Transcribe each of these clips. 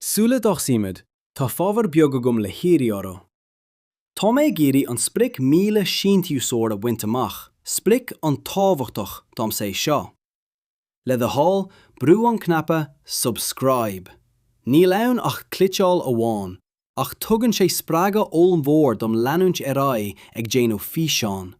Sula dtosaímid, tá fábhar beag agam le hiarraidh ort. Tá mé ag iarraidh an sprioc 1,000 síntiúsóir a bhaint amach, sprioc an-tábhachtach domsa é seo. Le do thoil, brú an cnaipe 'Subscribe'. Níl ann ach clitcheáil amháin, ach tugann sé spreagadh ollmhór dom leanúint ar aghaidh ag déanamh físeán.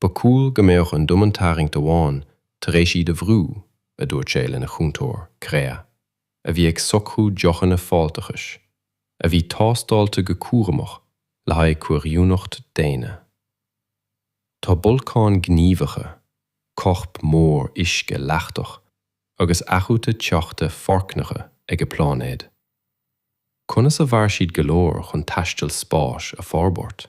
Ba chúil go mbeadh an domhantarraingt amháin tar éis iad a bhrú, a dúirt sé lena chúntóir, Krea, a bhí ag socrú deochanna fáilteachais, a bhí tástáilte go cúramach le haghaidh comhoiriúnacht daonna. Tá bolcáin gníomhacha, corp mór uisce leachtach agus athrúta teochta foircneacha ag a bpláinéad. Conas a mhair siad go leor chun taisteal spáis a fhorbairt?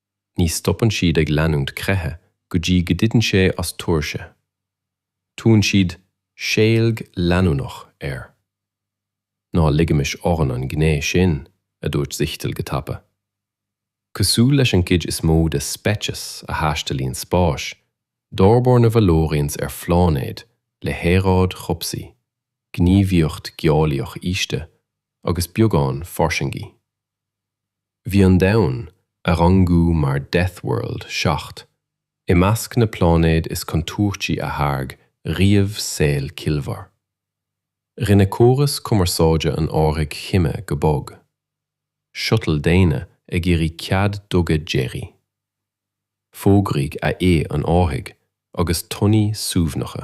Ní stopann siad ag leanúint creiche go dtí go dtiteann sé as tuirse. Tugann siad 'seilg leanúnach' air. Ná ligimis orainn an ghné sin, a dúirt Zichtel go tapa. Cosúil leis an gcuid is mó de speicis a thaistealaíonn spáis, d'fhorbair na Valorians ar phláinéid le haeráid chobhsaí, gníomhaíocht gheolaíoch íosta, agus beagán fairsingí. Bhí an domhan, a rangaíodh mar 'death world' 7, i measc na pláinéad is contúirtí a tháirg riamh saol ciallmhar. Rinne córas cumarsáide an árthaigh chime go bog. Shuttle daonna ag iarraidh cead duga deiridh. D'fhógair AI an árthaigh i dtonnaí suaimhneacha.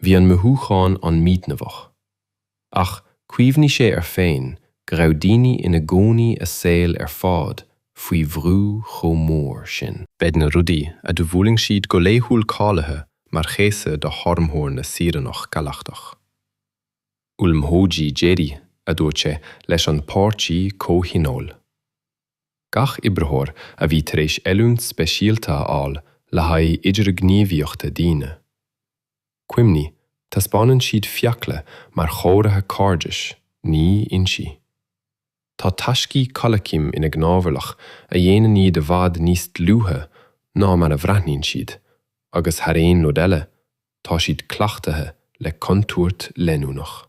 Bhí an mothúchán an-mhíthaitneamhach. Ach cuimhnigh sé air féin go raibh daoine ina gcónaí a saol ar fad faoi bhrú chomh mór sin. Bheadh na rudaí a dtabharfadh siad go laethúil cáilithe mar chéasadh d'fhormhór na saoránach galachtach. Ullmhúcháin deiridh, a dúirt sé, leis an bpáirtí comhthionóil. gach oibritheoir a bhí tar éis oiliúint speisialta a fháil le haghaidh idirghníomhaíochta daoine. Cuimhnigh, taispeánann siad fiacla mar chomhartha cairdis, ní ionsaí. Tá taiscí cailciam ina gcnámharlach a dhéanann iad i bhfad níos dlúithe ná mar a bhreathnaíonn siad, agus thar aon rud eile, tá siad cleachtaithe le contúirt leanúnach.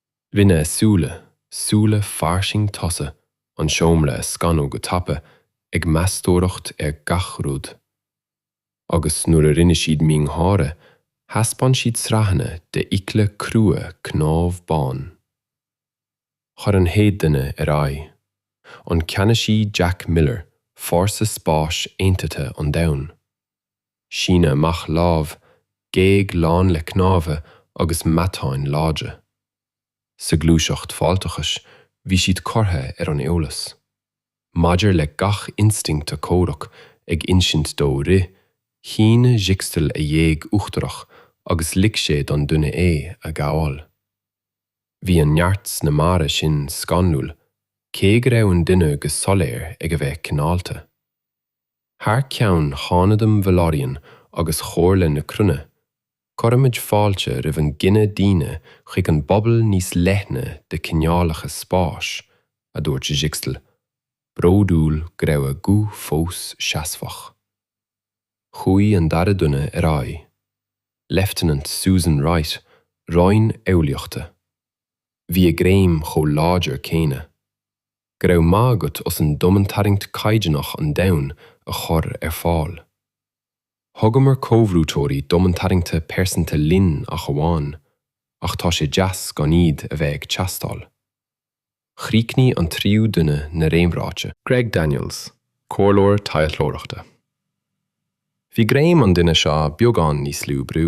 Rinne a súile, súile fairsing tosaigh, an seomra a scanadh go tapa, ag meastóireacht ar gach rud. Agus nuair a rinne siad miongháire, thaispeáin siad sraitheanna de fhiacla crua cnámh bán. Chuaigh an chéad duine ar aghaidh. An Ceannasaí Jack Miller, Fórsa Spáis Aontaithe an Domhain. Síneadh amach lámh, géag lán le cnámha agus meatáin láidre. Sa ghluaiseacht fáilteachais a bhí siad curtha ar an eolas. Maidir le gach instinct comhraic ag insint dó rith, shíneadh Sziksztal a ghéag uachtarach agus lig sé don duine é a ghabháil. Bhí an neart sna mbarra sin scanrúil, cé go raibh an duine go soiléir ag a bheith cineálta. Thar ceann Cheannasaíocht Valorian agus Chomhairle na Cruinne, cuirimid fáilte roimh an gcine daonna chuig an bpobal níos leithne de cineálacha spáis, a dúirt Sziksztal, bródúil go raibh a ghuth fós seasmhach. Chuaigh an dara duine ar aghaidh, Leifteanant Susan Wright, Roinn Eolaíochta. Bhí a greim chomh láidir céanna. Go raibh maith agat as an domhantarraingt caighdeánach an domhain a chur ar fáil. Thugamar comhbhrúiteoirí domhantarraingte pearsanta linn ach amháin, ach tá sé deas gan iad a bheith ag teastáil. Chríochnaigh an tríú duine na réamhráite. Greg Daniels, comhairleoir taidhleoireachta. Bhí greim an duine seo beagán níos lú brú.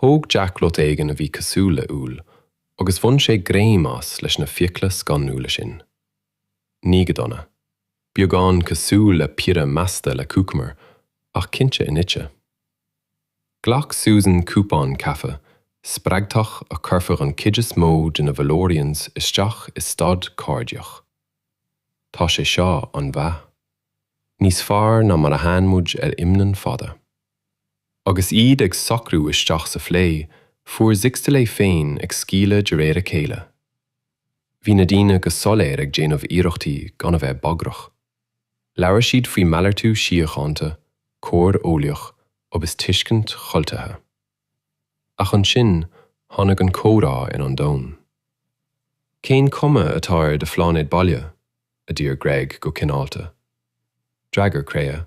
Thóg Greg rud éigin a bhí cosúil le úll agus bhain sé greim as leis na fiacla scanrúla sin. Ní go dona. Beagán cosúil le piorra measctha le cúcamar, ach cinnte inite. Ghlac Susan cupán caife spreagthach a chuirfeadh an chuid is mó de na Valorians isteach i staid cairdiach. Tá sé seo an-mhaith. Níos fearr ná mar a fhaigheann muid ar mhisin fhada. Agus iad ag socrú isteach sa phlé, fuair Zixtal é féin ag scaoileadh de réir a chéile. Bhí na daoine go soiléir ag déanamh iarrachtaí gan a bheith bagrach. Labhair siad faoi mhalartú síochánta, comhar eolaíoch agus tuiscint chultúrtha. Ach ansin tháinig an comhrá ar an domhan. Cén cuma atá ar do phláinéad baile? a d'iarr Greg go cineálta. D'fhreagair Krea,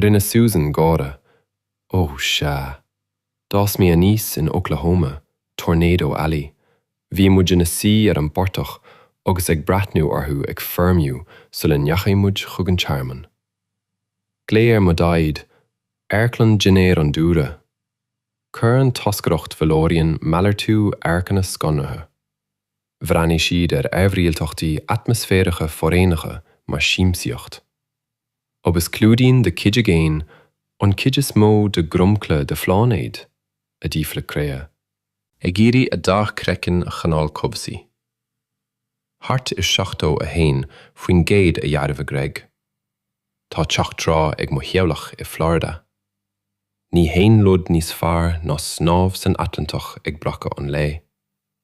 Rinne Susan gáire. Ó, sea. D'fhás mé aníos in Oklahoma, Tornado Alley. Bhí muid ina suí ar an bportach agus ag breathnú orthu ag foirmiú sula ndeachaigh muid chuig an tearmann. Glaodh ar mo Dhaid é, Amharclann Dhinnéir an Dúlra. Chuir an toscaireacht Valorian malartú amharcanna scanraithe. Bhreathnaigh siad ar aimhrialtachtaí atmaisféaracha foréigneacha mar siamsaíocht. Agus clúdaíonn do chuid aigéin an chuid is mó de dhromchla do phláinéid? a d'fhiafraigh Créa. Ag iarraidh a dath craicinn a choinneáil cobhsaí. Thart ar 71% a dhearbhaigh Greg. Tá teach trá ag mo theaghlach i Florida. Níl aon rud níos fearr ná snámh san Atlantach ag breacadh an lae.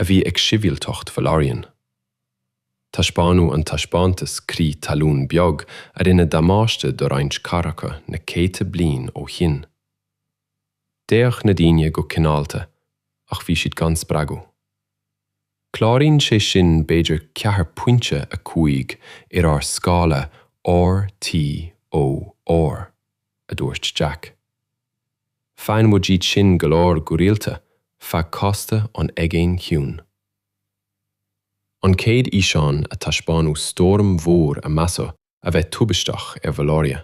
a bhí ag sibhialtacht Valorian. Taispeánadh an taispeántas crith talún beag a rinne damáiste do roinnt cathracha na céadta bliain ó shin. D'fhéach na daoine go cineálta ach bhí siad gan spreagadh. Cláraíonn sé sin b'fhéidir ceathair pointe a cúig ar ár scála Richter, a dúirt Jack. Faigheann muid iad sin go leor go rialta feadh cósta an Aigéin Chiúin. An chéad fhíseán thaispeáin stoirm mhór a measadh a bheith tubaisteach ar Valoria.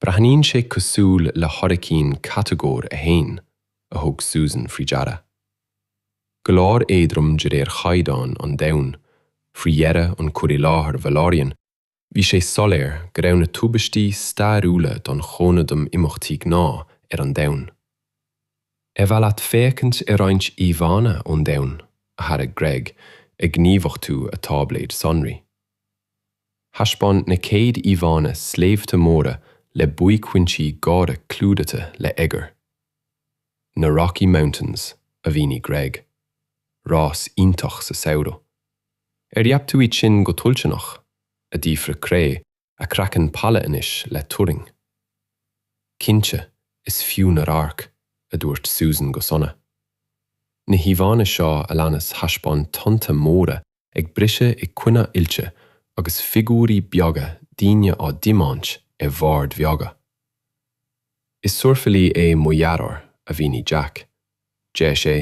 Breathnaíonn sé cosúil le hairicín Catagóir 1, a thug Susan faoi deara. Go leor éadrom de réir chaighdeán an domhain, faoi dheireadh an cur i láthair Valorian Bhí sé soiléir go raibh na tubaistí stairiúla den chuid ina n-imeachtaí gnáth ar an domhan. Ar mhaith leat féachaint ar roinnt íomhánna ón domhan? a thairg Greg, ag gníomhachtú a táibléid sonraí. Thaispeáin na céad íomhánna sléibhte móra le buaicphointí géara clúdaithe le oighear. Na Rocky Mountains, a mhínigh Greg. Rás iontach sa samhradh. An ndreap tú iad sin go toilteanach? a d'fhiafraigh Cré, a craiceann pale anois le turraing. Cinnte, is fiú na radhairc, a dúirt Susan go sona. Na híomhánna seo a leanas thaispeáin tonnta móra ag briseadh i gcoinne aillte agus figiúirí beaga daoine á dtiomáint ar bhoird bheaga. Is surfálaí é mo dheartháir, a mhínigh Jack, Deir sé,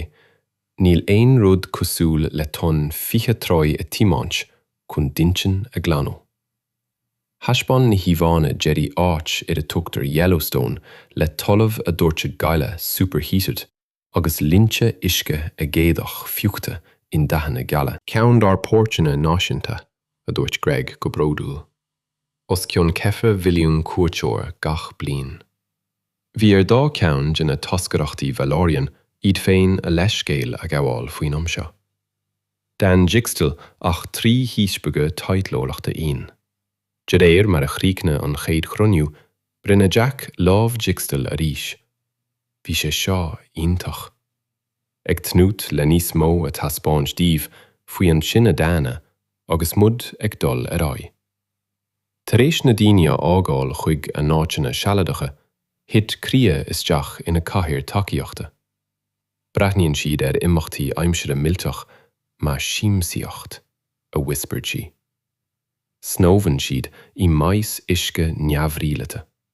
Níl aon rud cosúil le tonn 20 troigh a thiomáint chun d'intinn a ghlanadh. Thaispeáin na híomhánna deiridh áit ar a dtugtar Yellowstone le talamh ag doirteadh gaile superheated agus linnte uisce aigéadach fiuchta i ndathanna geala. Ceann dár bpáirceanna náisiúnta, a dúirt Greg go bródúil. os cionn ceithre mhilliún cuairteoir gach bliain. Bhí ar dhá cheann de na toscaireachtaí Valorian iad féin a leithscéal a ghabháil faoin am seo. D'fhan Jikstal ach trí dhíspeagadh taidhleoireachta íon. De réir mar a chríochnaigh an chéad chruinniú, rinne Jack lámh Jikstal arís. Bhí sé seo iontach. Ag tnúth le níos mó a taispeáint daoibh faoi an cine daonna agus muid ag dul ar aghaidh. Tar éis na daoine a fhágáil chuig a n-áiteanna sealadacha, thit Kria isteach ina cathaoir tacaíochta. Breathnaíonn siad ar imeachtaí aimsire millteach mar siamsaíocht, a whispered sí. Snámhann siad i mais uisce neamhrialaita.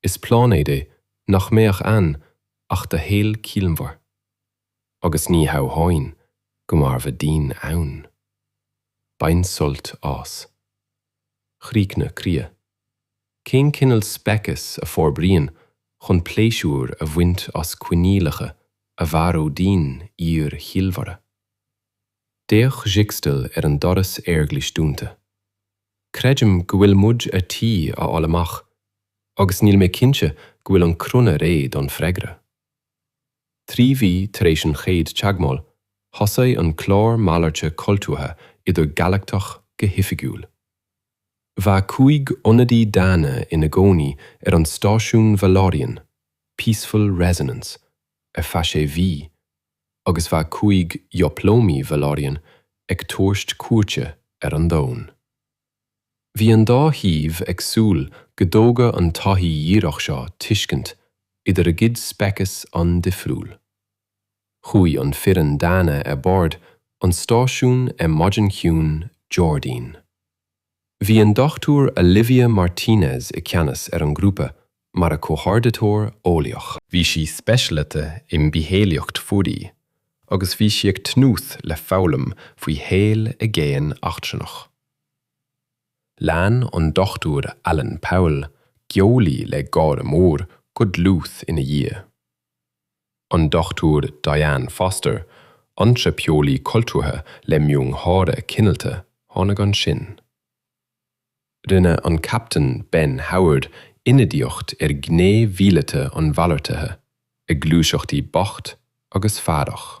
Is pláinéad é nach mbeadh ann ach do shaol ciallmhar, agus ní hamháin go mairfeadh daoine ann. Bain sult as. chríochnaigh Kria. Cén cineal speiceas a fhorbraíonn chun pléisiúr a bhaint as coinníollacha a mharódh daoine fhíor-chiallmhara? D'fhéach Zixtal ar an doras aerghlais dúnta. Creidim go bhfuil muid ar tí a fháil amach agus níl mé cinnte go bhfuil an cruinne réidh don freagra. Trí mhí tar éis an chéad teagmháil, thosaigh an clár malairte cultúrtha idir-galachtach go hoifigiúil. Bheadh cúig ionadaí daonna ina gcónaí ar an stáisiún Valorian, Peaceful Resonance, ar feadh sé mhí, agus bheadh cúig dhioplómaí Valorian ag tabhairt cuairte ar an domhan. Bhí an dá thaobh ag súil go dtógadh an taithí dhíreach seo tuiscint idir a gcuid speiceas an-difriúil. Chuaigh an foireann daonna ar bord an stáisiúin ar maidin chiúin Déardaoin. Bhí an Dr Olivia Martínez i ceannas ar an grúpa mar a comhordaitheoir eolaíoch. Bhí sí speisialaithe i mbitheolaíocht mhuirí agus bhí sí ag tnúth le foghlaim faoi shaol i gcéin eachtrannach. Lean an Dr Alan Powell, geolaí le gáire mór, go dlúth ina dhiaidh. An Dr Diane Foster, antraipeolaí cultúrtha le miongháire cineálta, tháinig ansin. Rinne an Captaen Ben Howard ionadaíocht ar ghné mhíleata an mhalartaithe, a gluaiseachtaí beacht agus faireach.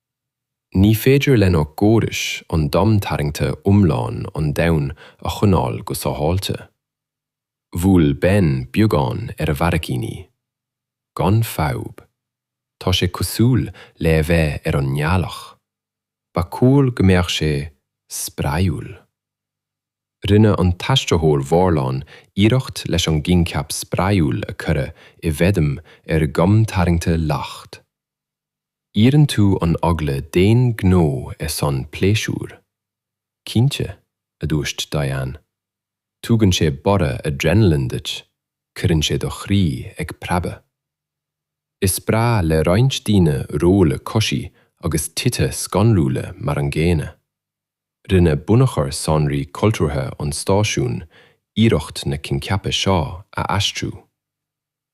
Ní féidir lenár gcórais an domhantarraingt iomlán an domhain a choinneáil go sábháilte. Bhuail Ben beagán ar a bharraicíní. Gan fadhb. Tá sé cosúil le a bheith ar an ngealach. Ba chóir go mbeadh sé spraíúil. Rinne an t-aistritheoir Valorian iarracht leis an gcoincheap spraíúil a cuireadh i bhfeidhm ar dhomhantarraingt lag. Iarrann tú an eagla d'aon ghnó ar son pléisiúir? Cinnte, a dúirt Diane. Tugann sé borradh adrenaline duit, cuireann sé do chroí ag preabadh. Is breá le roinnt daoine rolladh coisí agus tithe scanrúla mar an gcéanna. Rinne Bunachar Sonraí Cultúrtha an stáisiúin iarracht na coincheapa seo a aistriú.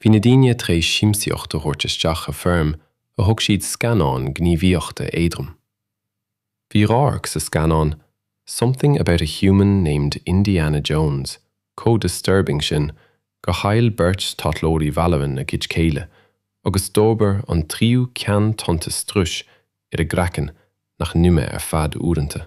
Bhí na daoine tar éis siamsaíocht a thabhairt isteach i foirm a thug siad scannán gníomhaíochta éadrom. Bhí radharc sa scannán Something About a Human Named Indiana Jones chomh disturbing sin gur chaill beirt taidhleoirí Valoran a gcuid céille agus d'fhorbair an tríú ceann tonnta struis ar a gcraiceann nach n-imigh ar feadh uaireanta.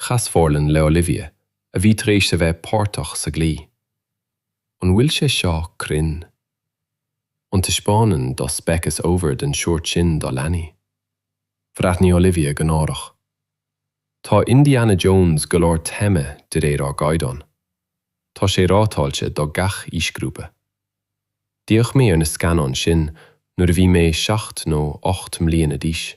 Chas Forlan le Olivia a bhí tar éis a bheith páirteach sa gclaí. An bhfuil sé seo cruinn? An taispeánann do speiceas ábhair den sórt sin do leanaí? Bhreathnaigh Olivia go náireach. Tá Indiana Jones go leor tame de réir ár gcaighdeán. Tá sé rátáilte do gach aoisgrúpa. D'fhéach mé ar na scannáin sin nuair a bhí mé seacht nó ocht mbliana d'aois.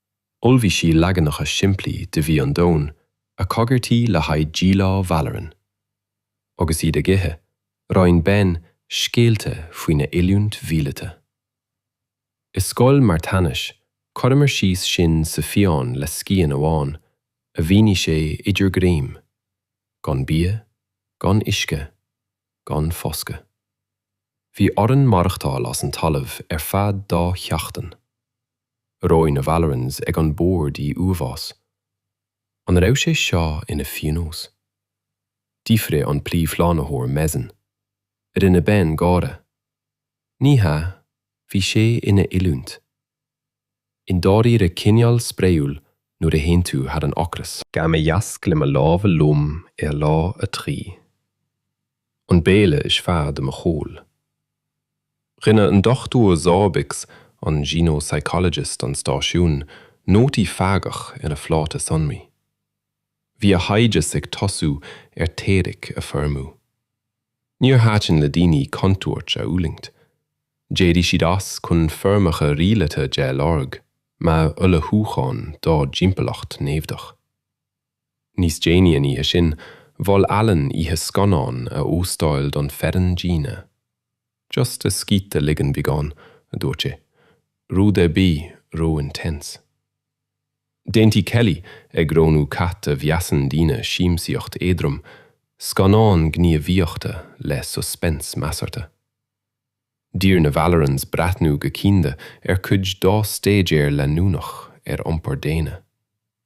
Ullmhaigh sí leaganacha simplí de bhia an Domhain a coigeartaíodh le haghaidh díleá Valoran. Agus iad ag ithe, roinn Ben scéalta faoina oiliúint mhíleata. I scoil marthanais, chuireamar síos sinn sa fiáin le scian amháin a mhínigh sé idir greim, gan bia, gan uisce, gan foscadh. Bhí orainn maireachtáil as an talamh ar feadh dá sheachtain. Reoigh na Valorans ag an bord i uafás. An raibh sé seo ina phíonós? d'fhiafraigh an Príomhshlánaitheoir Mezzen. Rinne Ben gáire. Ní hea, bhí sé ina oiliúint. I ndáiríre cineál spraoiúil nuair a théann tú thar an ocras. Ghabh mé iasc le mo lámha lom ar lá a trí. an béile is fearr de mo shaol. Rinne an Dr Zorbicz, an xenopsychologist an stáisiúin, nótaí feargach ar a phláta sonraí. Bhí a thaighdeas ag tosú ar theoiric a foirmiú. Níor thaitin le daoine contúirt a fhulaingt. D'éirigh siad as chun foirmeacha rialaithe de a lorg, mar ullmhúchán dá dtimpeallacht naimhdeach. Níos déanaí an oíche sin, mhol Alan oíche scannáin a óstáil don foireann daonna. Just a scíth a ligean beagán, a dúirt sé. Rud ar bith ró-intense. D'aontaigh Kelly, ag roghnú cad a mheasann daoine siamsaíocht éadrom, scannán gníomhaíochta le suspense measartha. D'iarr na Vallerans breathnú go cianda mar cuid dá staidéar leanúnach ar iompar daonna.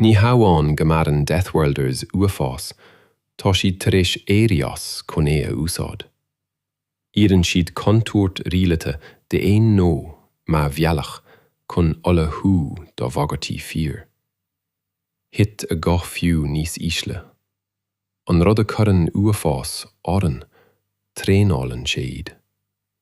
Ní hamháin go maireann Death Worlders uafás, tá siad tar éis éirí as chun é a úsáid. Iarrann siad contúirt rialaithe d'aon ghnó mar bhealach chun ullmhú do bhagairtí fíor. Thit a guth fiú níos ísle. An rud a chuireann uafás orainn, traenálann sé iad.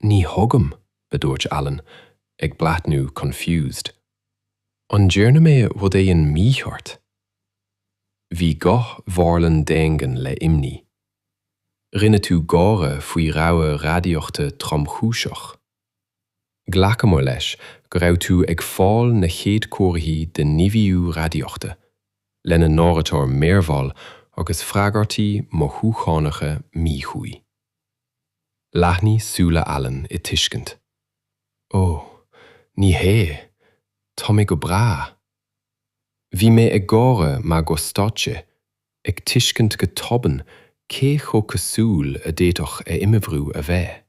Ní thuigim, a dúirt Alan, ag breathnú confused. An ndearna mé rud éigin mícheart? Bhí guth Mharlon daingean le imní. Rinne tú gáire faoi rabhadh radaíochta tromchúiseach. Ghlacamar leis go raibh tú ag fáil na chéad comharthaí de nimhiú radaíochta, lena n-áiritear méarbhall agus freagairtí mothúchánacha míchuí. Leathnaigh súile Alan i tuiscint. Ó, ní hea, tá mé go breá. Bhí mé ag gáire mar go stad sé, ag tuiscint go tobann cé chomh casual a d'fhéadfadh a imoibriú a bheith.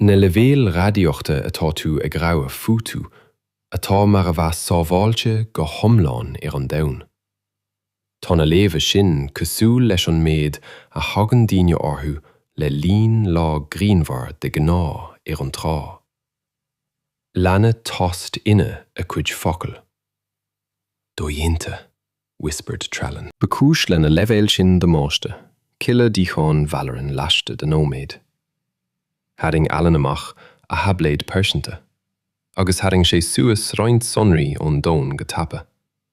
Na leibhéil radaíochta atá tú ag rabhadh fúthu, atá mar a bheadh sábháilte go hiomlán ar an domhan. Tá na léamha sin cosúil leis an méid a thagann daoine orthu le linn lá grianmhar de ghnáth ar an trá. Lean tost iontach a cuid focal. Dodhéanta! whispered Trallon. Ba chúis lena leibhéal sin damáiste cille d'fhíochán Valerian laistigh de nóiméad. Tharraing Alan amach a thaibléad pearsanta agus tharraing sé suas roinnt sonraí ón domhan go tapa.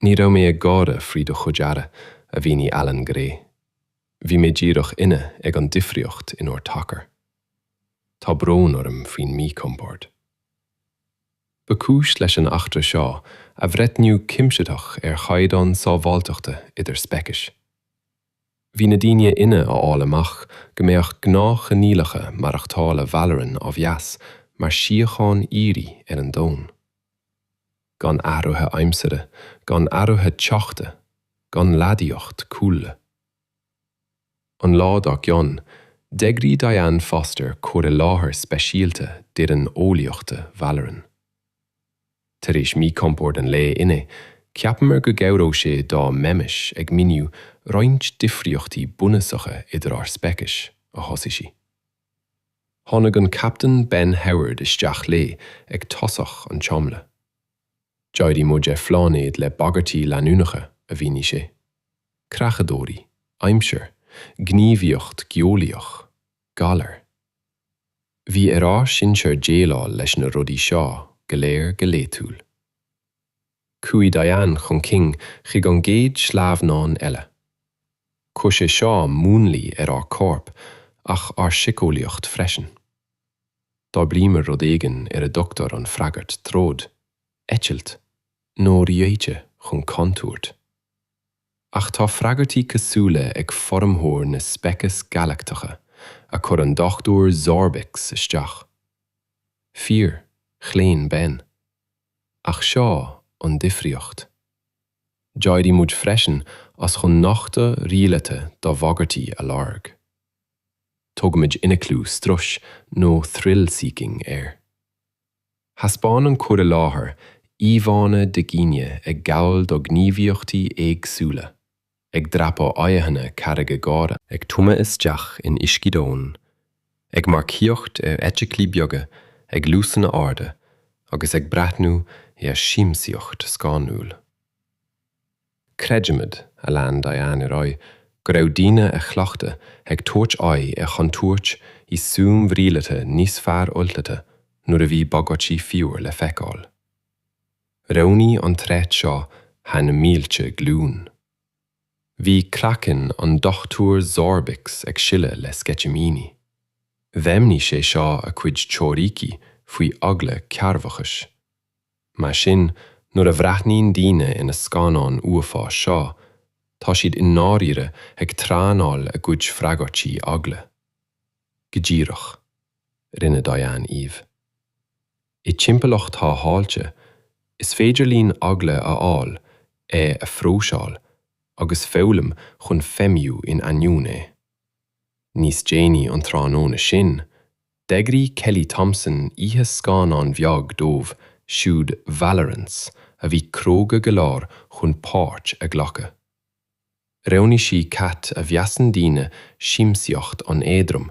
Ní raibh mé ag gáire faoi do chuid aire, a mhínigh Alan go réidh. Bhí mé díreach inne ag an difríocht in ár dtacar. Tá brón orm faoin míchompord. Ba chúis leis an eachtra seo athbhreithniú cuimsitheach ar chaighdeán sábháilteachta idir speicis. Bhí na daoine inne a fháil amach go mbeadh gnáthchoinníollacha maireachtála Valerian á mheas mar síocháin aoirí ar an domhan. gan athruithe aimsire, gan athruithe teochta, gan radaíocht cúlra. An lá dár gcionn, d'eagraigh Diane Foster cur i láthair speisialta d'fhoireann eolaíochta Valoran. Tar éis míchompord an lae inné, cheapamar go gcabhródh sé dá mbeimis ag míniú roinnt difríochtaí bunúsacha idir ár speicis, a thosaigh sí. Tháinig an Captain Ben Howard isteach léi ag tosach an tseomra. D'éirigh muid ar phláinéad le bagairtí leanúnacha, a mhínigh sé. Creachadóirí, aimsir, gníomhaíocht geolaíoch, galair. Bhí ar ár sinsear déileáil leis na rudaí seo go léir go laethúil. Chuaigh Diane chun cinn chuig an gcéad sleamhnán eile. Chuir sé seo múnlaí ar ár gcorp ach ár siceolaíocht freisin. D'fhorbraíomar rud éigin ar a dtugtar an freagairt troid, eitilt, nó reoite chun contúirt. Ach tá freagairtí cosúla ag formhór na speiceas galactacha a chuir an Dr. Zorbix isteach. Fíor, chlaon Ben. Ach seo an difríocht. D'éirigh muid freisin as chun nochtadh rialaithe do bhagairtí a lorg. Tugaimid ionaclú struis nó thrill seeking air. Thaispeáin an cur i láthair íomhánna de dhaoine ag gabhail do ghníomhaíochtaí éagsúla, ag dreapadh aghaidheanna carraige géara, ag tumadh isteach in uiscí domhain, ag marcaíocht ar fheithiclí beaga ag luasanna arda agus ag breathnú ar siamsaíocht scanrúil. Creidimid, a lean Diane ar aghaidh, go raibh daoine a chleachtadh ag tabhairt aghaidh ar chontúirt i suímh rialaithe níos fearr ullmhaithe nuair a bhí bagairtí fíor le feiceáil. Roghnaigh an tréith seo thar na mílte glúin. Bhí craiceann an Dr. Zorbix ag sileadh le sceitimíní. Dheimhnigh sé seo a cuid teoiríci faoi eagla cearrbhachais. Mar sin, nuair a bhreathnaíonn daoine ina scannáin uafáis seo, tá siad i ndáiríre ag traenáil a gcuid freagairtí eagla. Go díreach. Rinne Diane aoibh. I dtimpeallacht shábháilte, is féidir linn eagla a fháil, é a phróiseáil agus foghlaim chun feidhmiú in ainneoin é. Níos déanaí an tráthnóna sin, d'eagraigh Kelly Thompson oíche scannán bheag dóibh siúd Valorans a bhí cróga go leor chun páirt a ghlacadh. Roghnaigh sí cad a mheasann daoine siamsaíocht an-éadrom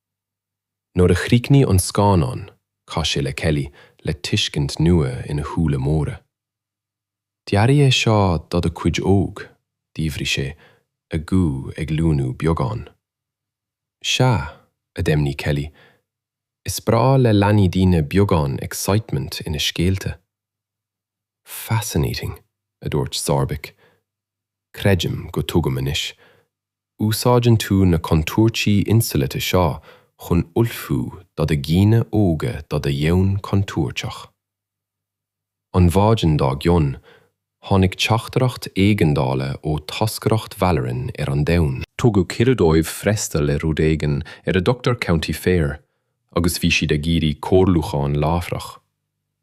Nuair a chríochnaigh an scannán, chas sé le Kelly le tuiscint nua ina shúile móra. Dearadh é seo do do chuid óg, d'fhiafraigh sé, a ghuth ag luainiú beagán. Sea, a dheimhnigh Kelly, is breá le leanaí daoine beagán excitement ina scéalta. Fascinating, a dúirt Zarbeck. Creidim go dtuigim anois. Úsáideann tú na contúirtí insamhlaithe seo chun ullmhú do do dhaoine óga do do dhomhan contúirteach. An mhaidin dár gcionn, tháinig teachtaireacht éigeandála ó toscaireacht Valoryn ar an domhan. Tugadh cuireadh dóibh freastal ar rud éigin ar a dtugtar County Fair agus bhí siad ag iarraidh comhairliúchán láithreach.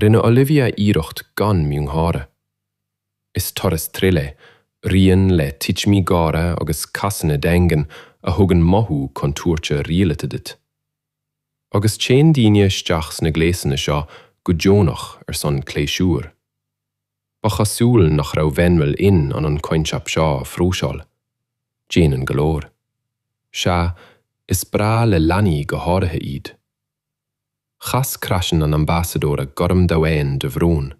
Rinne Olivia iarracht gan miongháire. Is turas thrill é, rian le titimí géara agus casanna daingean a thugann mothú contúirte rialaithe duit. Agus téann daoine isteach sna gléasanna seo go deonach ar son pléisiúir. Ba chosúil nach raibh Venril in ann an coincheap seo a phróiseáil. Déanann go leor. Sea, is breá le leanaí go háirithe iad. Chas craiceann an Ambasadóra gorm domhain de bhrón.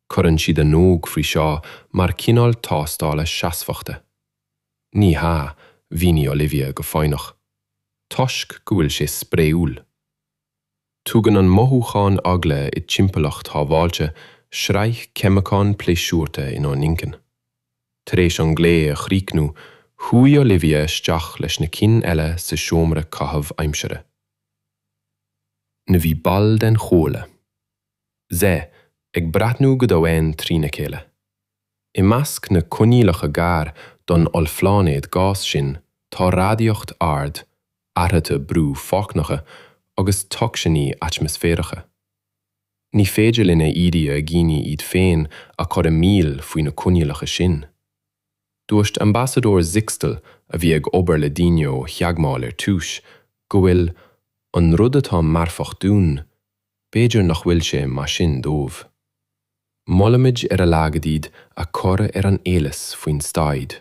Cuireann siad a n-óg faoi seo mar chineál tástála seasmhachta. Ní hea, mhínigh Olivia go foighneach, toisc go bhfuil sé spraoiúil. Tugann an mothúchán eagla i dtimpeallacht shábháilte sraith ceimiceán pléisiúrtha inár n-inchinn. Tar éis an glao a chríochnú, chuaigh Olivia isteach leis na cinn eile sa seomra caitheamh aimsire. N. Bhí ball den Chomhairle. Z. ag breathnú go domhain trína chéile. I measc na coinníollacha gar don ollphláinéad gás sin tá radaíocht ard, athruithe brú foircneacha agus tocsainí atmaisféaracha. Ní féidir linn a iarraidh ar dhaoine iad féin a chur i mbaol faoi na coinníollacha sin. Dúirt Ambasadóir Zixtel, a bhí ag obair le daoine ó theagmháil ar dtús, go bhfuil, an rud atá marfach dúinn, b'fhéidir nach bhfuil sé mar sin dóibh. Molaimid ar a laghad iad a chur ar an eolas faoin staid.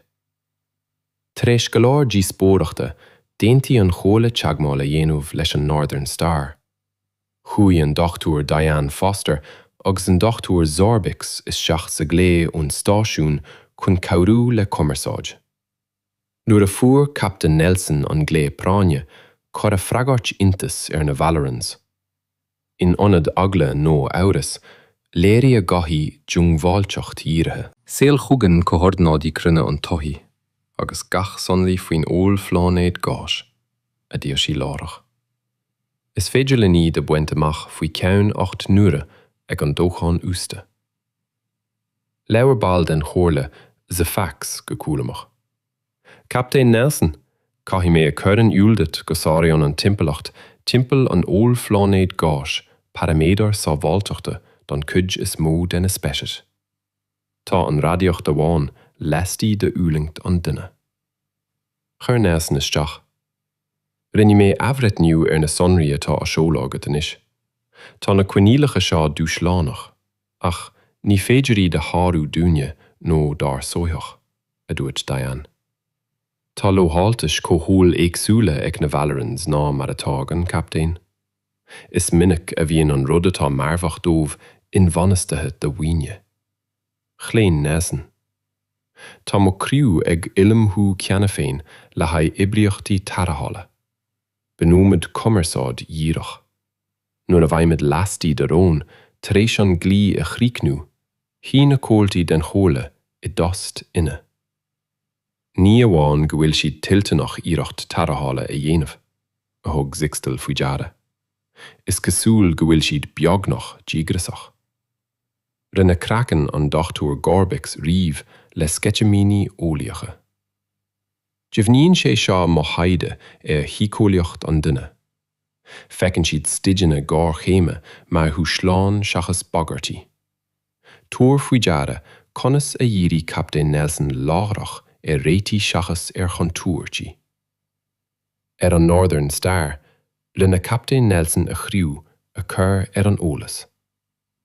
Tar éis go leor díospóireachta, d'aontaigh an Chomhairle teagmháil a dhéanamh leis an Northern Star. Chuaigh an Dr Diane Foster agus an Dr Zorbix isteach sa glao ón stáisiún chun cabhrú le cumarsáid. Nuair a fuair Captain Nelson an glao práinne, cuireadh freagairt iontais ar na Valorans. In ionad eagla nó amhras, léirigh a gothaí diongbháilteacht dhírithe. Seol chugainn comhordanáidí cruinne an tsoithigh agus gach sonraí faoin ollphláinéad gáis, a d'iarr sí láithreach. Is féidir linn iad a bhaint amach faoi cheann ocht n-uaire ag an dóchán uasta. Labhair ball den chomhairle Thefax go cúramach. Captaen Nelson, caithfidh mé a chur in iúl duit go sáraíonn an timpeallacht timpeall an ollphláinéid gáis paraiméadair sábháilteachta don chuid is mó de na speicis. Tá an radaíocht amháin lastigh de fhulaingt an duine. Chuir Nelson isteach. Rinne mé athbhreitniú ar na sonraí atá á seoladh agat anois. Tá na coinníollacha seo dúshlánach, ach ní féidir iad a shárú dúinne nó dár soitheach, a dúirt Diane. Tá lamháltais chomhshaoil éagsúla ag na Valorans ná mar atá ag an Captaen. Is minic a bhíonn an rud atá marfach daoibh inbhainistithe do dhaoine. Chlaon Nelson. Tá mo chriú ag ullmhú cheana féin le haghaidh oibríochtaí tarrthála. Bunóimid cumarsáid dhíreach. Nuair a bheimid laistigh de raon tar éis an glao a chríochnú, shuigh na comhaltaí den Chomhairle i dtost ina. Ní amháin go bhfuil siad toilteanach iarracht tarrthála a dhéanamh, a thug Zixtal faoi deara, is cosúil go bhfuil siad beagnach díograsach. Rinne craiceann an Dr. Gorbix rim le sceitimíní eolaíocha. Deimhníonn sé seo mo thaighde ar shíceolaíocht an duine. Feiceann siad staideanna géarchéime mar dhúshláin seachas bagairtí. Tabhair faoi deara conas a dhírigh Captaen Nelson láithreach ar réitigh seachas ar chontúirtí. Ar an Northern Star, rinne Captaen Nelson a chriú a chur ar an eolas.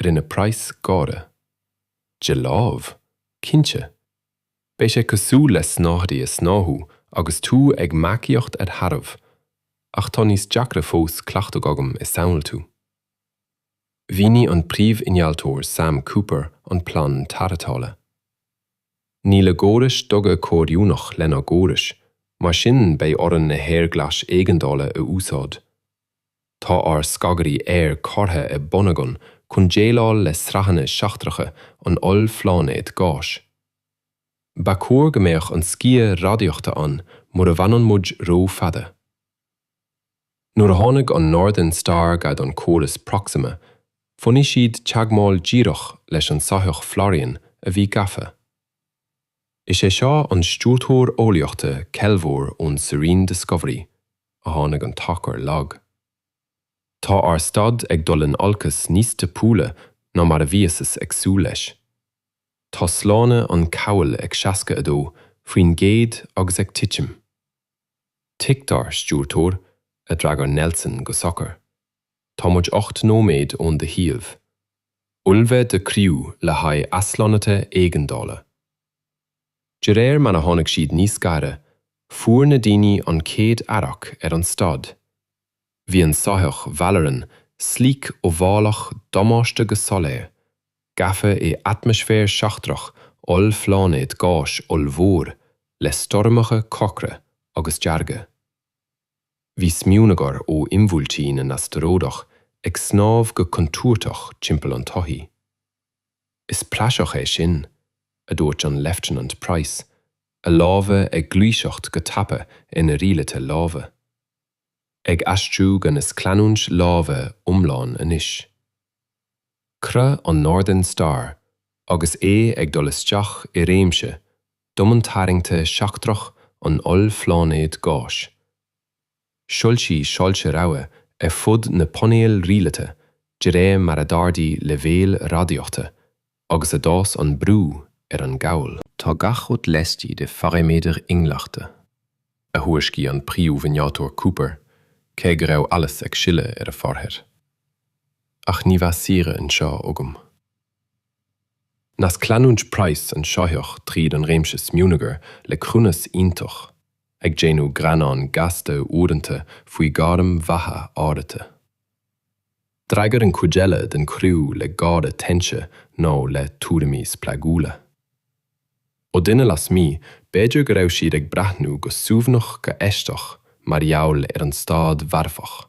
Rinne Price gáire. De láimh, cinnte. Beidh sé cosúil le snáthaid a shnáthú agus tú ag marcaíocht ar tharbh, ach tá níos deacra fós cleachtadh agam i samhaltú. Mhínigh an príomh-innealtóir Sam Cooper an plean tarrthála. Níl a gcórais duga comhoiriúnach lenár gcórais, mar sin beidh orainn na haerglais éigeandála a úsáid. Tá ár scagairí aeir curtha i bun againn chun déileáil le sraitheanna seachtracha an ollphláinéid gáis. Ba chóir go mbeadh an sciath radaíochta ann mura bhfanann muid ró-fhada. Nuair a tháinig an Northern Star gar don chóras Proxima, bhunaigh siad teagmháil dhíreach leis an soitheach Valoran a bhí gafa. Is é seo an stiúrthóir eolaíochta Kelvor ón Serene Discovery, a tháinig an tarchur lag. Tá ár staid ag dul in olcas níos tapúla ná mar a bhíothas ag súil leis. Tá sláine an cabhail ag 62% agus ag titim. Tuigtear, Stiúrthóir, a d'fhreagair Nelson go socair. Tá muid ocht nóiméad ón do shuíomh. Ullmhaigh do criú le haghaidh aslonnaithe éigeandála. De réir mar a tháinig siad níos gaire, fuair na daoine an chéad radharc ar an staid. Bhí an soitheach Valoran sleek óbhálach damáiste go soiléir, gafa i atmaisféar seachtrach ollphláinéad gáis ollmhór le stoirmeacha corcra agus dearga. Bhí smionagar ó imbhuailtí na n-astaróideach ag snámh go contúirteach timpeall an tsoithigh. Is praiseach é sin, a dúirt an Leifteanant Price, a lámha ag gluaiseacht go tapa ar na rialuithe láimhe. Ag aistriú go nascleanúint láimhe iomlán anois. Chroith an Northern Star agus é ag dul isteach i réimse domhantarraingthe seachtrach an ollphláinéid gáis. Shoilsigh soilse rabhaidh ar fud na painéil rialaithe de réir mar a d'ardaigh leibhéil radaíochta agus a d'fhás an brú ar an gcabhail. Tá gach rud laistigh de pharaiméadair inghlachta, a thuairiscigh an Príomh-Innealtóir Cooper cé go raibh allas ag sileadh ar a pháirthir. Ach ní bheadh saoire anseo agam. Nascleanúint Price an soitheach tríd an réimse smionagar le cruinneas iontach, ag déanamh greannán gasta uaireanta faoi ghairm bheatha áirithe. D'fhreagair an chuid eile den chriú le gáire teinte nó le tuairimí spreagúla. Ó dhuine lasmuigh, b'fhéidir go raibh siad ag breathnú go suaimhneach go aisteach mar gheall ar an staid mharfach.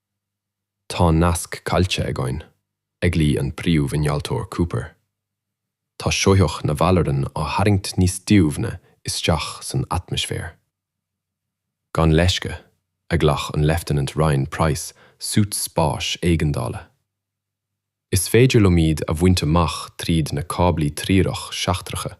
Tá nasc caillte againn, a ghlaoigh an príomh-innealtóir Cooper. Tá soitheach na Valoran á tharraingt níos doimhne isteach san atmaisféar. Gan leisce a ghlac an Leifteanant Ryan Price suit spáis éigeandála. Is féidir liom iad a bhaint amach tríd na cáblaí treorach seachtracha.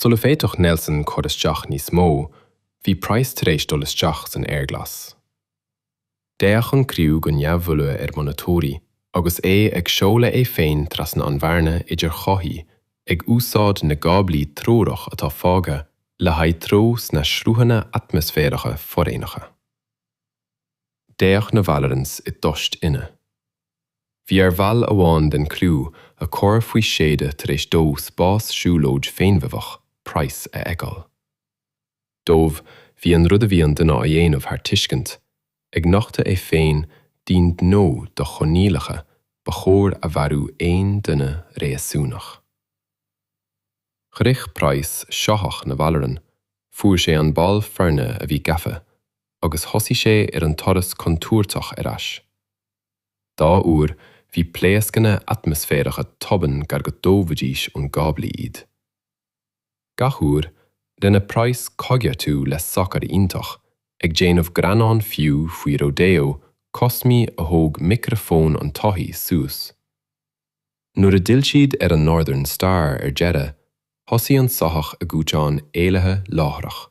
Sula bhféadfadh Nelson cur isteach níos mó, bhí Price tar éis dul isteach san aerghlas. D'fhéach an criú go neamhthuilleadh ar mhonatóirí agus é ag seoladh é féin trasna an bhearna idir shoithí, ag úsáid na gcáblaí treorach atá fágtha le haghaidh treo sna sruthanna atmaisféaracha foréigneacha. D'fhéach na Vallerans i dtost ina. Bhí ar bhall amháin den chriú a chur faoi séada tar éis dó spás siúlóid féinmharfach Price a fheiceáil. Dóibh bhí an rud a bhí an duine á dhéanamh thar tuiscint, ag nochtadh é féin d'aon ghnó do choinníollacha ba chóir a mharú aon duine réasúnach. Shroich Price soitheach na Valleran, fuair sé an ball foirne a bhí gafa agus thosaigh sé ar an turas contúirteach ar ais. Dhá uair bhí pléascanna atmaisféaracha tobann gar go dtógfaidís ón gcáblaí iad. Gach uair, rinne Price coigeartú le socair iontach, ag déanamh greannán fiú faoi rodeo cosmaí a thóg micreafón an tsoithí suas. Nuair a d'fhill siad ar an Northern Star ar deireadh, thosaigh an soitheach a gcúiteán éalaithe láithreach.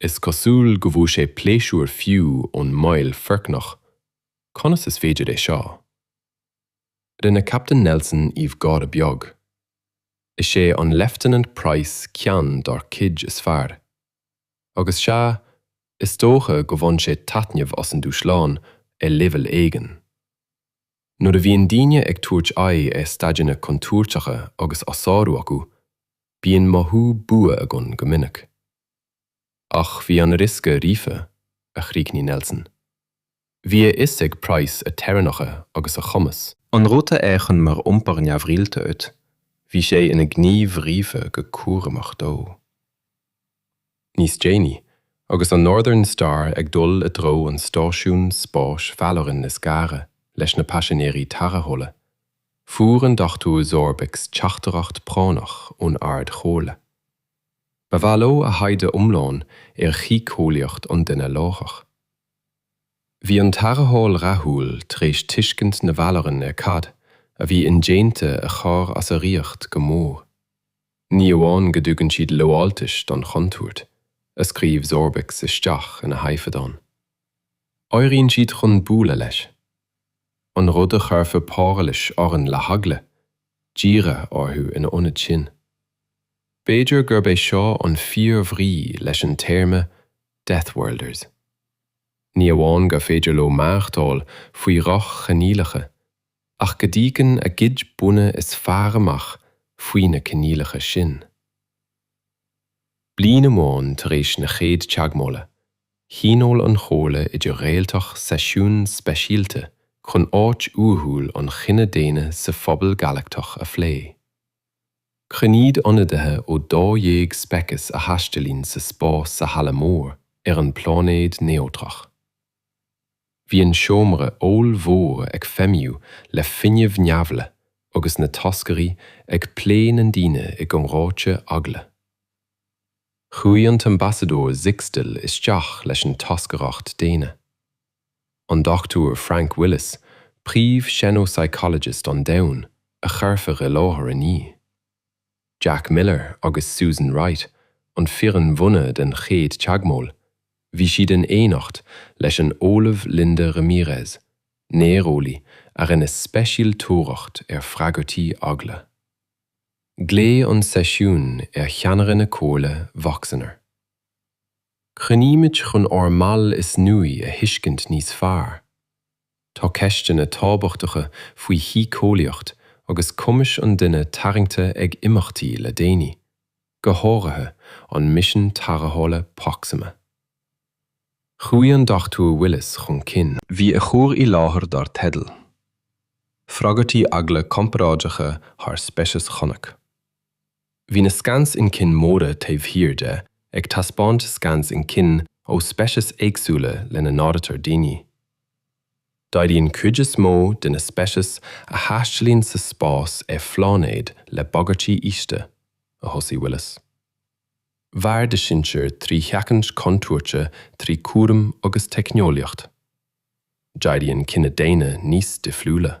Is cosúil go bhfuair sé pléisiúr fiú ón mbaol foircneach. Conas is féidir é seo? Rinne Captain Nelson aoibh gáire beag. Is é an Lieutenant Price ceann dár gcuid is fearr. Agus sea, is dócha go bhfaigheann sé taitneamh as an dúshlán ar leibhéal éigin. Nuair a bhíonn daoine ag tabhairt aghaidh ar staideanna contúirteacha agus á sárú acu, bíonn mothú bua againn go minic. Ach bhí an riosca ríofa, a chríochnaigh Nelson. Bhí a fhios ag Price a theorainneacha agus a chumas. An rud a fhéachann mar iompar neamhrialta duit, Bhí sé ina gníomh ríofa go cúramach dó. níos déanaí, agus an Northern Star ag dul i dtreo an stáisiúin spáis Valleran is gaire leis na paisinéirí tarrthála, fuair an Dr. Zorbix teachtaireacht práinneach ón Ardchomhairle. Ba mhaith leo a thaighde iomlán ar shíceolaíocht an duine láithreach. Bhí an tarrtháil rathúil tar éis tuiscint na Valleran ar cad a bhí indéanta a chur as a riocht go mór. Ní amháin go dtugann siad lamháltais don chontúirt a scríobh Zorbix isteach ina thaifeadán, éiríonn siad chun bualadh leis, an rud a chuirfeadh páirilis orainn le heagla, díriú orthu ina ionad sin. B'fhéidir gurb é seo an fíor-bhrí leis an téarma 'deathworlders'. Ní amháin gur féidir leo maireachtáil faoi dhroch-choinníollacha, ach go dtagann a gcuid buanna is fearr amach faoi na coinníollacha sin. Bliain amháin tar éis na chéad teagmhála, thionóil an Chomhairle Idir-Réaltach seisiún speisialta chun áit uathúil an chine daonna sa phobal Galachtach a phlé. Chruinnigh ionadaithe ó dá dhéag speiceas a thaistealaíonn sa spás sa Halla Mór ar an bpláinéad neodrach. Bhí an seomra ollmhór ag feidhmiú le fuinneamh neirbhíseach agus na toscairí ag plé na ndaoine i gcomhráite eagla. Chuaigh an tAmbasadóir Zixtel isteach leis an toscaireacht daonna. An Dr Frank Willis, príomh xenopsychologist an domhain, a chuirfeadh i láthair inniu. Jack Miller agus Susan Wright, an fhoireann bhunaidh den chéad teagmháil, bhí siad in éineacht leis an Ollamh Linda Ramirez, néareolaí a rinne speisialtóireacht ar freagairtí eagla. Glaodh an seisiún ar cheannaire na Comhairle Vacsainner. Cruinnímid chun ár mball is nuaí a thuiscint níos fearr. Tá ceisteanna tábhachtacha faoi shíceolaíocht agus cumais an duine tarraingthe ag imeachtaí le déanaí, go háirithe an misean tarrthála Proxima. Chuaigh an Dr Willis chun cinn. Bhí a chur i láthair dar teideal, Freagairtí Eagla Comparáideacha thar Speiceas Chonnac. Bhí na scans inchinne móra taobh thiar de ag taispeáint scans inchinne ó speicis éagsúla lena n-áirítear daoine. D'éirigh an chuid is mó de na speicis a thaistealaíonn sa spás ar phláinéad le bagairtí ísle, a thosaigh Willis. Mhair do shinsir trí sheachaint contúirte trí chúram agus teicneolaíocht. D'éirigh an cine daonna níos difriúla.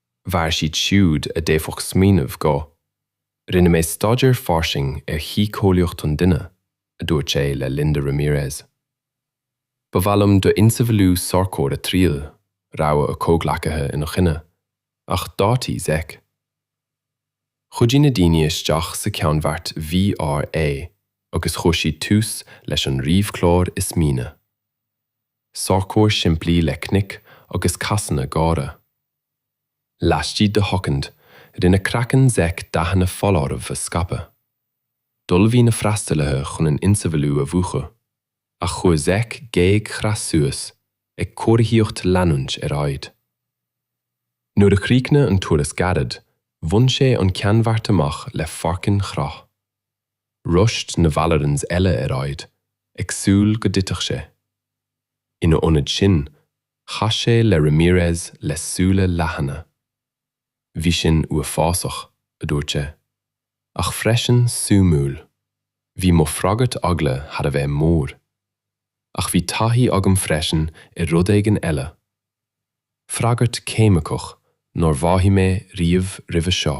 mhair siad siúd a d'fhéadfadh smaoineamh go, Rinne mé staidéar fairsing ar shíceolaíocht an duine, a dúirt sé le Linda Ramirez. Ba mhaith liom d'ionsamhlú sorcóir a Thriail, rabhadh a chomhghleacaithe ina choinne, ach d'áitigh Zec. Chuidigh na daoine isteach sa cheannbheart VR é agus chuir siad tús leis an ríomhchlár is míne. Sorcóir simplí le cnoic agus casanna géara. Laistigh de shoicind, rinne craiceann Zech dathanna foláirimh a scaipeadh. D'ullmhaigh na freastalaithe chun an ionsamhlú a mhúchadh, ach chuir Zech géag chreathach suas, ag comharthaíocht leanúint ar aghaidh. Nuair a chríochnaigh an turas gairid, bhain sé an ceannbheart amach le foirceann ar crith. rushed na Vallerans eile ar aghaidh, ag súil go dtitfeadh sé. Ina ionad sin, chas sé le Ramirez le súile leathana. Bhí sin uafásach, a dúirt sé, ach freisin suimiúil. Bhí mo freagairt eagla thar a bheith mór. Ach bhí taithí agam freisin ar rud éigin eile, freagairt cheimiceach nár mhothaigh mé riamh roimhe seo.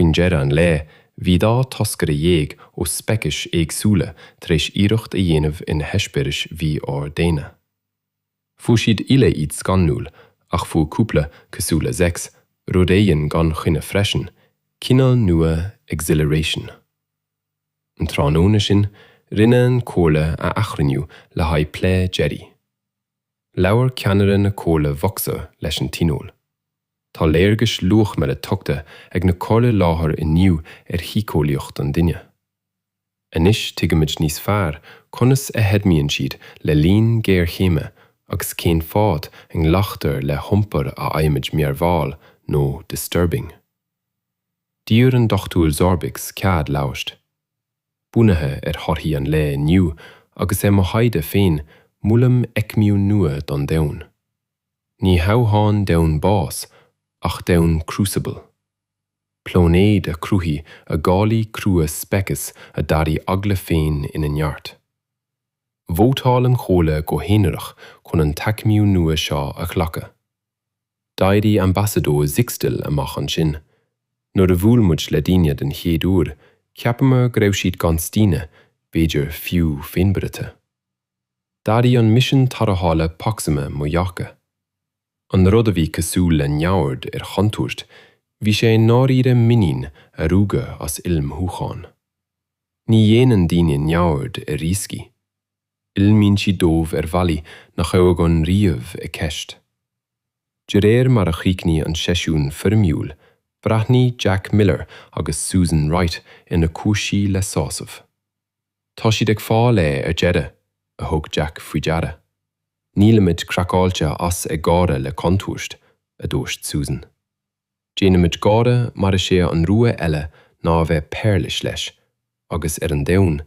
Faoin deireadh an lae, bhí dá thoscaire dhéag ó speicis éagsúla tar éis iarracht a dhéanamh ar na heispéiris mhí-ord-daonna. Fuair siad uile iad scanrúil, ach fuair cúpla, cosúil le Zex, rud éigin gan choinne freisin, cineál nua exhilaration. An tráthnóna sin, rinne an Chomhairle a athchruinniú le haghaidh plé deiridh. Labhair ceannaire na Comhairle Vocsa leis an Tionól. Tá léargais luachmhara tugtha ag na Comhairle i láthair inniu ar shíceolaíocht an duine. Anois tuigimid níos fearr conas a fheidhmíonn siad le linn géarchéime agus cén fáth a nglactar le hiompar a fhaighimid mearbhall nó disturbing. D'iarr an Dochtúir Zorbix cead labhairt. Bunaithe ar thorthaí an lae inniu agus ar mo thaighde féin molaim aicmiú nua don domhan. Ní hamháin domhan bás ach domhan crucible, pláinéad a chruthaigh a dhálaí crua speiceas a d'athraigh eagla féin ina neart. Vótáil an Chomhairle go haonarach chun an t-aicmiú nua seo a ghlacadh. D'éirigh Ambasadóir Zixtel amach ansin. Nuair a bhuail muid le daoine den chéad uair, cheapamar go raibh siad gan staonadh, b'fhéidir fiú féinmharaithe. D'athraigh an misean tarrthála Proxima mo dhearcadh. An rud a bhí cosúil le neamhaird ar chontúirt, bhí sé i ndáiríre muinín a rugadh as ullmhúchán. Ní dhéanann daoine neamhaird ar rioscaí. Ullmhaíonn siad dóibh ar bhealaí nach raibh againn riamh i gceist. De réir mar a chríochnaigh an seisiún foirmiúil, bhreathnaigh Jack Miller agus Susan Wright ar na cúinsí le sásamh. Tá siad ag fáil é ar deireadh, a thug Jack faoi deara. Nílimid craiceáilte as ag gáire le contúirt, a dúirt Susan. Déanaimid gáire mar is é an rogha eile ná a bheith pairilis leis, agus ar an domhan,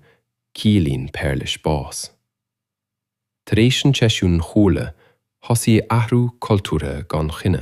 ciallaíonn pairilis bás. Tar éis an tseisiúin Chomhairle, thosaigh athrú cultúrtha gan choinne.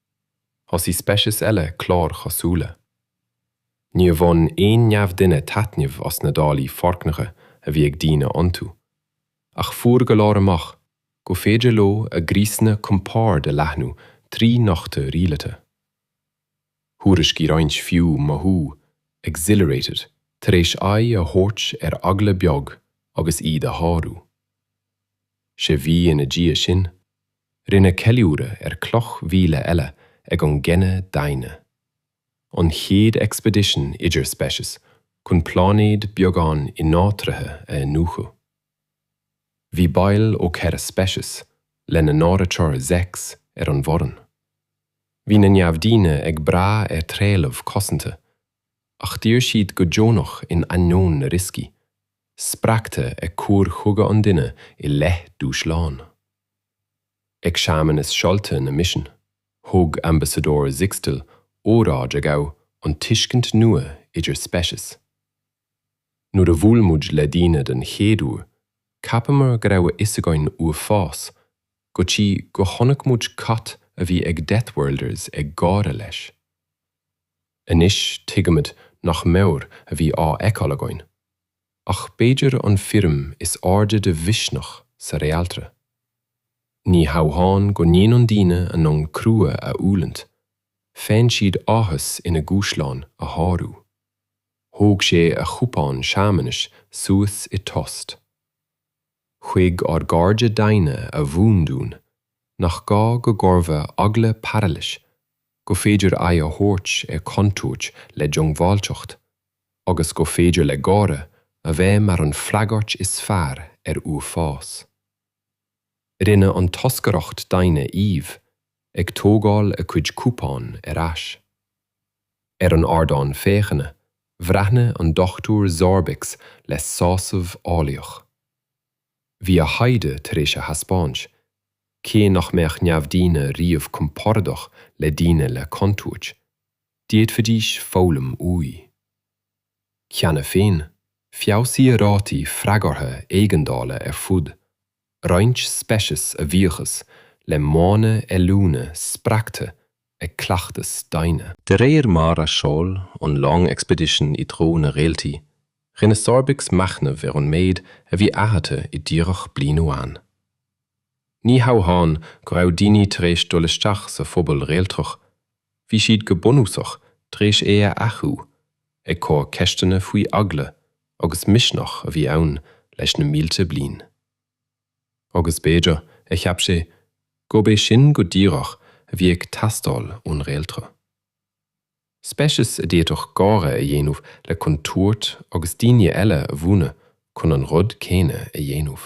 thosaigh speicis eile cláir chosúla. Níor bhain aon neamhdhuine taitneamh as na dálaí foircneacha a bhí ag daoine iontu, ach fuair go leor amach gur féidir leo a gcriosanna compoird a leathnú trí nochtadh rialaithe. Thuairiscigh roinnt fiú mothú exhilarated tar éis aghaidh a thabhairt ar eagla beag agus iad a shárú. Sé mhí ina dhiaidh sin, Rinneadh ceiliúradh ar cloch mhíle eile ag an gcine daonna, an chéad expedition idirspeiceas chun pláinéad beagán ináitrithe a iniúchadh. Bhí baill ó ceithre speiceas, lena n-áiritear Zex, ar an bhfoireann. Bhí na neamhdaoine ag brath ar threalamh cosanta, ach d'iarr siad go deonach in ainneoin na rioscaí, spreagtha ag cur chuige an duine i leith dúshláin. Ag searmanas seolta na misean, thug Ambasadóir Zixtel óráid a ghabh an tuiscint nua idir speiceas. Nuair a bhuail muid le daoine den chéad uair, cheapamar go raibh a fhios againn uafás, go dtí go chonaic muid cad a bhí ag deathworlders ag gáire leis. Anois tuigimid nach mire a bhí á fheiceáil againn. Ach b'fhéidir an foirm is airde de mhisneach sa Réaltra. Ní hamháin go ndéanann daoine a ndomhan crua a fhulaingt, faigheann siad áthas ina dhúshláin a shárú. Thóg sé a chupán searmanais suas i dtósta. Chuig ár gcairde daonna a mhúin dúinn nach gá go gcuirfeadh eagla pairilis, go féidir aghaidh a thabhairt ar chontúirt le diongbháilteacht. agus go féidir le gáire a bheith mar an fhreagairt is fearr ar uafás. Rinne an toscaireacht daonna aoibh, ag tógáil a cuid cupán ar ais. Ar an ardán féachana, bhreathnaigh an Dochtúir Zorbix le sásamh eolaíoch. Bhí a thaighde tar éis a thaispeáint, cé nach mbeadh neamhdhaoine riamh compordach le daoine le contúirt, D'fhéadfaidís foghlaim uaidh. Cheana féin, feabhsaíodh rátaí freagartha éigeandála ar fud roinnt speiceas a bhuíochas le modhanna oiliúna spreagtha ag cleachtas daonna. De réir mar a sheol an long expedition i dtreo na réaltaí, rinne Zorbix machnamh ar an méid a bhí athraithe i díreach bliain amháin. Ní hamháin go raibh daoine tar éis dul isteach sa phobal réaltrach, Bhí siad go bunúsach tar éis é a athú ag cur ceisteanna faoi eagla agus misneach a bhí ann leis na mílte bliain. Agus b'fhéidir, a cheap sé gurb é sin go díreach a bhí ag teastáil ón réaltra. Speiceas a d'fhéadfadh gáire a dhéanamh le contúirt agus daoine eile a mhúineadh chun an rud céanna a dhéanamh.